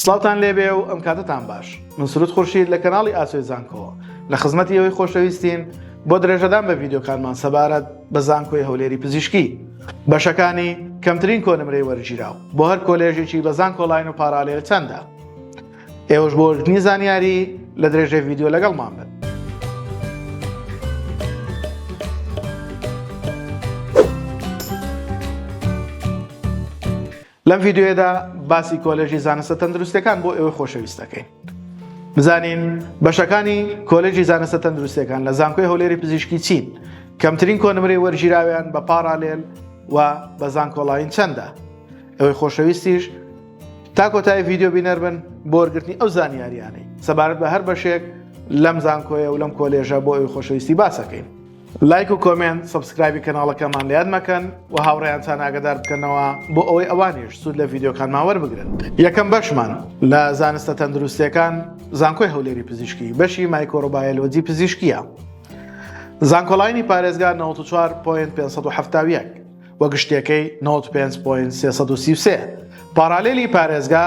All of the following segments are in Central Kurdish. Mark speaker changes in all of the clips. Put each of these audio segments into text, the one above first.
Speaker 1: سڵاوتان لێبێ و ئەم کاتەتان باش من سرود خورشید لە کەناڵی ئاسۆی زانکۆوە لە خزمەتی ئەوەی خۆشەویستین بۆ درێژەدان بە ڤیددیوکانمان سەبارەت بە زانکۆی هەولێری پزیشکی بەشەکانی کەمترین کۆنمرەی وەرگیراو بۆ هەر کۆلێژێکی بە زانکۆلاین و پارالێل چەندە ئێوەش بۆ وەرگنی زانیاری لە درێژەی ڤیددیو لەگەڵمان بن لەم ڤیددیوەدا باسی کۆلێژی زانستە تەندروستەکان بۆ ئێوە خۆشەویست دەکەین بزانین بەشەکانی کۆلێژی زانستە تەندروستەکان لە زانکۆی هەولێری پزیشکی چین کەمترین کۆنمرەی وەرگیراویان بە پاراالێل و بە زانکۆڵین چەندە ئەوەی خۆشەویستیش تا کۆتای ڤیددیو بینەر بن بۆرگرتنی ئەو زانیاریانەی سەبارەت بە هەر بەشێک لەم زانکۆیە و لەم کۆلێژە بۆ ئەوی خۆشەویستی باسەکەین لایک و کۆمێنت سبسکرایبی کەناڵەکەمان لە یاد مەکەن و هاوڕێیانتان ئاگدار بکەنەوە بۆ ئەوەی ئەوانیش سوود لە ڤیددیوکانمان وەربگرن یەکەم بەشمان لە زانستە تەندروستەکان زانکۆی هەولێری پزیشکی بەشی مایکۆرۆبایەلۆجی پزیشکیە زانکۆلاینی پارێزگار 94.570 وە گشتەکەی 95.333 پارالێلی پارێزگا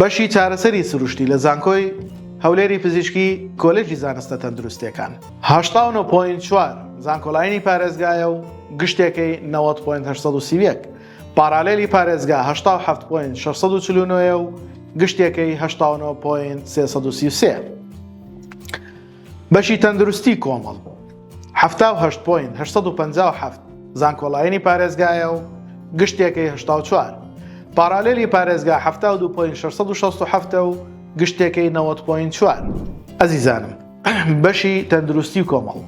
Speaker 1: بەشی چارەسەری سروشتی لە زانکۆی هەولێری پزیشکی کۆلێژی زانستە تەندروستیەکان هەشتا و نۆ پۆینت چوار زانکۆلاینی پارێزگایە و گشتێکەی نەوەد پۆینت هەشت سەد و سی و یەک پارالێلی پارێزگا هەشتا و حەفت پۆینت شەش سەد و چل و نۆ یە و گشتێکەی هەشتا و نۆ پۆینت سێ سەد و سی و سێ. بەشی تەندروستی کۆمەڵ حەفتا و هەشت پۆینت هەشت سەد و پەنجا و حەفت زانکۆلاینی پارێزگایە و گشتێکەی هەشتا و چوار پارالیلی پارێزگا حەفتا و دوو پۆینت شەش سەد و شەست و حەفت و گشتێکەی نەوەد پۆینت چوار ئەزیزانم بەشی تەندروستی کۆمەڵ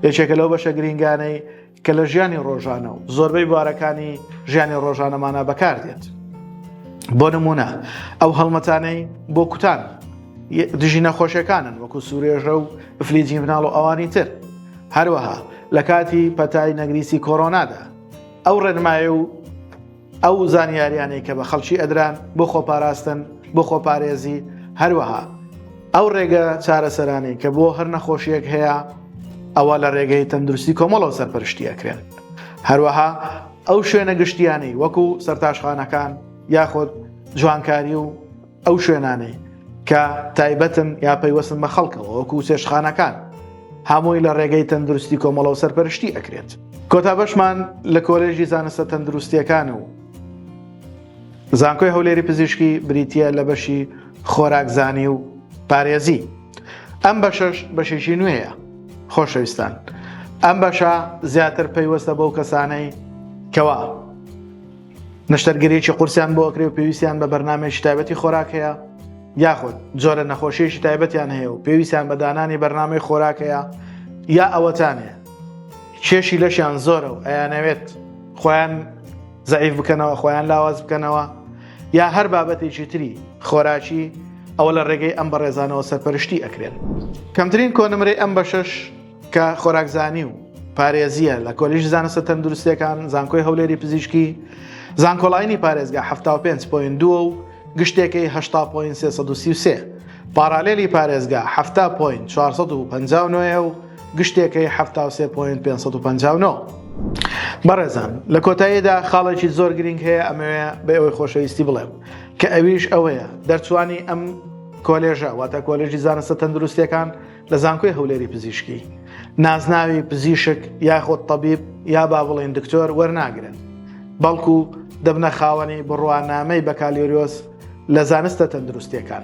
Speaker 1: یەکێکە لەو بەشە گرینگانەی کە لە ژیانی ڕۆژانە و زۆربەی بوارەکانی ژیانی ڕۆژانەمانە بەکاردێت بۆ نمونە ئەو هەڵمەتانەی بۆ کوتان دژی نەخۆشیەکانن وەکو سوورێژە و ئەفلیجی مناڵ و ئەوانی تر هەروەها لە کاتی پەتای نەگریسی کۆرۆنادا ئەو ڕێنمایە و ئەو زانیاریانەی کە بە خەڵکی ئەدران بۆ خۆپاراستن بۆ خۆپارێزی هەروەها ئەو ڕێگە چارەسەرانی کە بۆ هەر نەخۆشیەک هەیە ئەوە لە ڕێگەی تەندروستی کۆمەڵەوە سەرپەرشتیەکرێن هەروەها ئەو شوێنە گشتیانەی وەکو سەرتاشخانەکان یاخود جوانکاری و ئەو شوێنانەی کە تایبەتن یا پەیوەستن بە خەڵکەوە وەکو چێشخانەکان هەمووی لە ڕێگەی تەندروستی کۆمەڵە و سەرپەرشتی ئەکرێت کۆتا بەشمان لە کۆلێژی زانستە تەندروستیەکان و زانکۆی هەولێری پزیشکی بریتە لە بەشی خۆراکزانی و پارێزی ئەم بەشەش بەشێکی نوێیە خۆشەویستان ئەم بەشە زیاتر پەیوەستە بەو کەسانەی کەوا نەشتەرگەریی قورسیان بۆ ئەکرێ و پێویستیان بە بەرنامەیەکی تایبەتی خۆراک هەیە، یاخود جۆرە نەخۆشییەکی تایبەتیان هەیە و پێویستیان بە دانانی بەرنامەی خۆراک هەیە، یا ئەوەتانە کێشی لەشیان زۆرە و ئەیانەوێت خۆیان زەعیف بکەنەوە، خۆیان لاواز بکەنەوە، یا هەر بابەتێکی تری خۆراکی، ئەوە لە ڕێگەی ئەم بەڕێزانەوە سەرپەرشتی ئەکرێن. کەمترین کۆنمرەی ئەم بەشەش کە خۆراکزانی و پارێزیە لە کۆلیژ زانستە تەندروستەکان زانکۆی هەولێری پزیشکی زانکۆلاینی پارێزگا 5.2 و گشتێکی 1933 پارالێلی پارێزگا 1950 و گشتێکی 1950 بەڕێزان لە کۆتاییدا خاڵێکی زۆر گرنگ هەیە ئەمەوێ بە ئەوەی خۆشەویستی بڵێم کە ئەویش ئەوەیە دەرچوانی ئەم کۆلێژە واتە کۆلێژی زانستە تەندروستەکان لە زانکۆی هەولێری پزیشکی نازناوی پزیشک یاخۆد تەبیب یا با بڵێن دکتۆر وەرناگرن بەڵکو دەبنە خاوەنی بڕوانامەی بەکالیۆریۆس لە زانستە تەندروستیەکان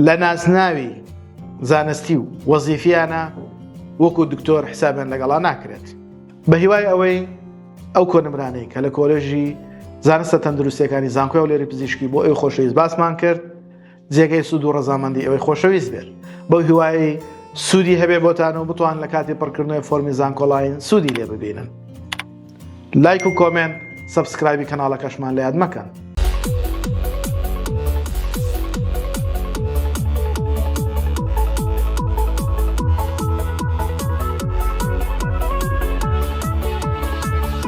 Speaker 1: لە نازناوی زانستی و وەزیفیانە وەکو دکتۆر حسابیان لەگەڵا ناکرێت بە هیوای ئەوەی ئەو کۆنمرانەی کە لە کۆلێژی زانستە تەندروستەکانی زانکۆی و لێری پزیشکی بۆ ئەو خۆشەویست باسمان کرد جێگەی سوود و ڕەزامەندی ئەوەی خۆشەویست بێت بەو هیوایی سوودی هەبێ بۆتان و بتوان لە کاتی پڕکردنەوەی فۆرمی زانکۆڵین سوودی لێ ببینن لایک و کۆمێنت سبسکرایبی کەناڵەکەشمان لە یاد مەکەن